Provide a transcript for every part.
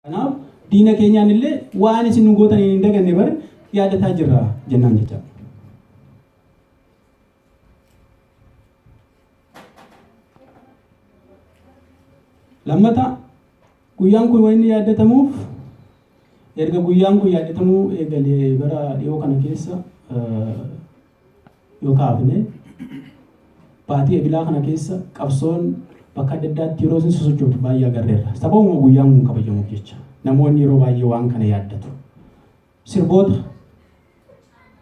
Kanaaf diina keenyaan illee waan isin nu gootan hin daganne bar yaadataa jirra jennaan jecha. Lammata guyyaan kun wanni yaadatamuuf erga guyyaan kun yaadatamuu eegalee bara dhiyoo kana keessa yoo kaafne baatii ebilaa kana keessa qabsoon bakka adda addaatti yeroo isin sosochootu baay'ee agarreerra. Sababuma guyyaan kun kabajamuuf jecha namoonni yeroo baay'ee waan kana yaaddatu. Sirboota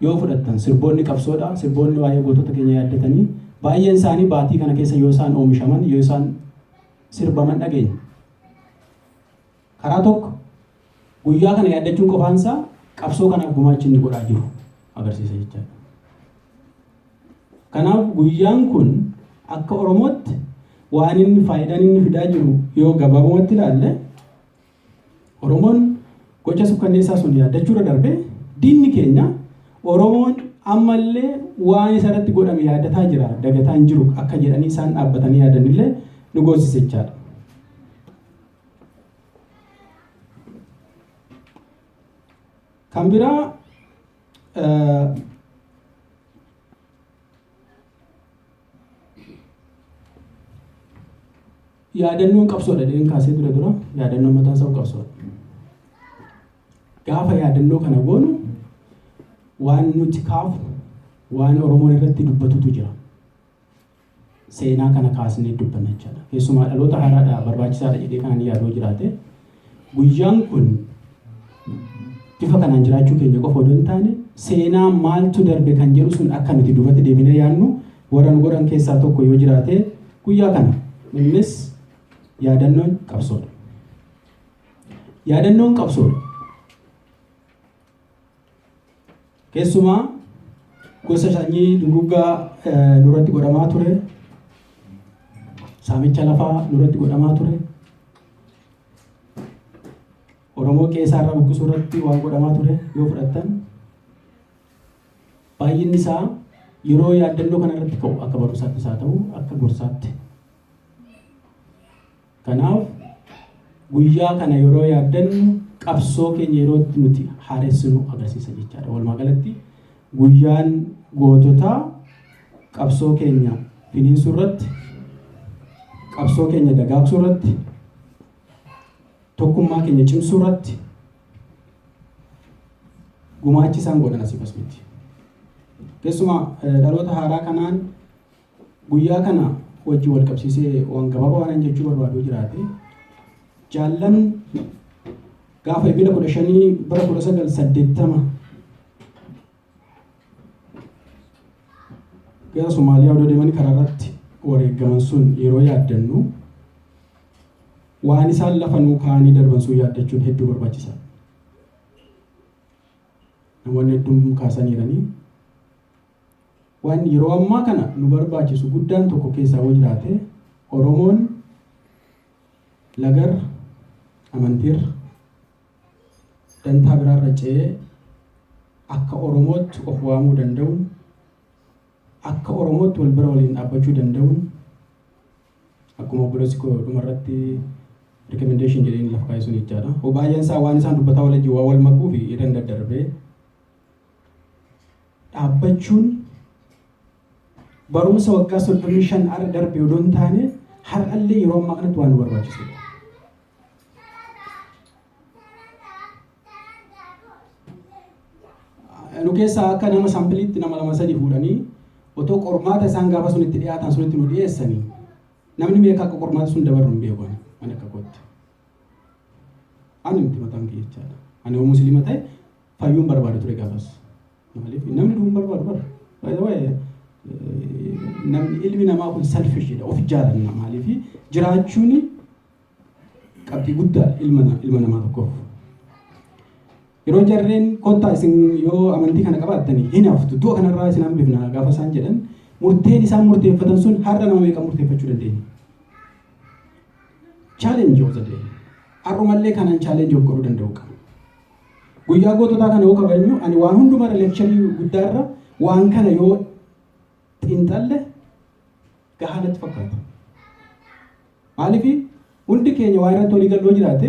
yoo fudhattan sirboonni qabsoodha sirboonni waa'ee gootota keenya yaaddatanii baay'een isaanii baatii kana keessa yoo isaan oomishaman yoo isaan sirbaman dhageenya. Karaa tokko guyyaa kana yaaddachuun qofaan isaa qabsoo kanaaf gumaachi inni godhaa jiru agarsiisa jechaadha. Kanaaf guyyaan kun akka Oromootti waan inni faayidaan inni fidaa jiru yoo gabaabumatti ilaalle Oromoon gocha sukkanneessaa sun yaaddachuurra darbee diinni keenya Oromoon ammallee waan isa irratti godhame yaadataa jira dagataa hin jiru akka jedhanii isaan dhaabbatanii yaadanillee nu goosisa jechaadha. Kan biraa yaadannoon qabsoodha jedheen kaasee dura dura yaadannoon mataa isaa qabsoodha. Gaafa yaadannoo kana goonu waan nuti kaafu waan Oromoon irratti dubbatutu jira. seenaa kana kaasnee dubbanna jechaadha. Keessumaa dhaloota haaraadhaa barbaachisaadha jedhee kan ani yaadu yoo jiraate guyyaan kun bifa kanaan jiraachuu keenya qofa odoo hin taane seenaa maaltu darbe kan jedhu sun akka nuti duubatti deebinee yaadnu warra nu godhan keessaa tokko yoo jiraate guyyaa kana innis yaadannoon qabsoodha. Yaadannoon qabsoodha. Keessumaa gosa sanyii duguuggaa nurratti godhamaa ture, saamicha lafaa nurratti godhamaa ture, Oromoo qeesaa irraa buqqisuu irratti waan godhamaa ture yoo fudhattan baay'inni isaa yeroo yaaddannoo kana irratti ka'u akka barumsaattis haa ta'u akka gorsaatti Kanaaf guyyaa kana yeroo yaaddannu qabsoo keenya yeroo itti nuti haaressinu agarsiisa jechaadha. Walumaa galatti guyyaan goototaa qabsoo keenya finiinsuu irratti, qabsoo keenya dagaagsuu irratti, tokkummaa keenya cimsuu irratti gumaachi isaan godhan asii bas miti. Keessumaa dhaloota haaraa kanaan Guyyaa kana wajjin wal qabsiisee waan gabaabaa waan jechuu barbaadu jiraate jaallan gaafa ebila kudha shanii bara kudha sagal saddeettama gara Somaaliyaa odoo deemanii karaa irratti wareegaman sun yeroo yaaddannu waan isaan lafa nuu kaa'anii darban sun yaaddachuun hedduu barbaachisa. Namoonni hedduun kaasaniiranii Waan yeroo ammaa kana nu barbaachisu guddaan tokko keessaa yoo jiraate Oromoon lagarra, amantiirra, dantaa biraarra ce'ee akka Oromootti of waamuu danda'uun, akka Oromootti wal bira waliin dhaabbachuu danda'uun akkuma obboleessi koo dhumarratti recommendation jedheen lafa kaa'e sun jechaadha. Baay'een isaa waan isaan dubbataa wal wajjin waa wal makuu fi irra hin daddarbee dhaabbachuun barumsa waggaa 35 arra darbe odoo hin taane har'allee yeroo ammaa kanatti waan nu barbaachisudha. Nu keessaa akka nama saampiliitti nama lama sadi fuudhanii otoo qormaata isaan gaafa sun itti dhiyaatan sunitti nu dhiyeessanii namni meeqa akka qormaata sun dabarru hin beeku ani ani akka kootti. Ani miti mataan kee jechaadha. Ani yoo musliima ta'e Fayyuun barbaada ture gaafas. Maaliif namni du'uun barbaadu bar. By the way, namni ilmi namaa kun selfish dha. Of jaalanna maaliif jiraachuun qabxii guddaa ilma ilma namaa tokkoof. Yeroo jarreen kottaa isin yoo amantii kana qabaattanii hin haftu du'a kanarraa isin hambifna gaafa isaan jedhan murteen isaan murteeffatan sun har'a nama meeqa murteeffachuu dandeenya. Challenge of the day. Har'umallee kanaan challenge of godhuu danda'u qaba. Guyyaa goototaa kana yoo kabajnu ani waan hunduma irra leekcharii guddaa irra waan kana yoo xiinxalle gahaa natti fakkaata. Maaliif hundi keenya waa irratti walii gallee jiraate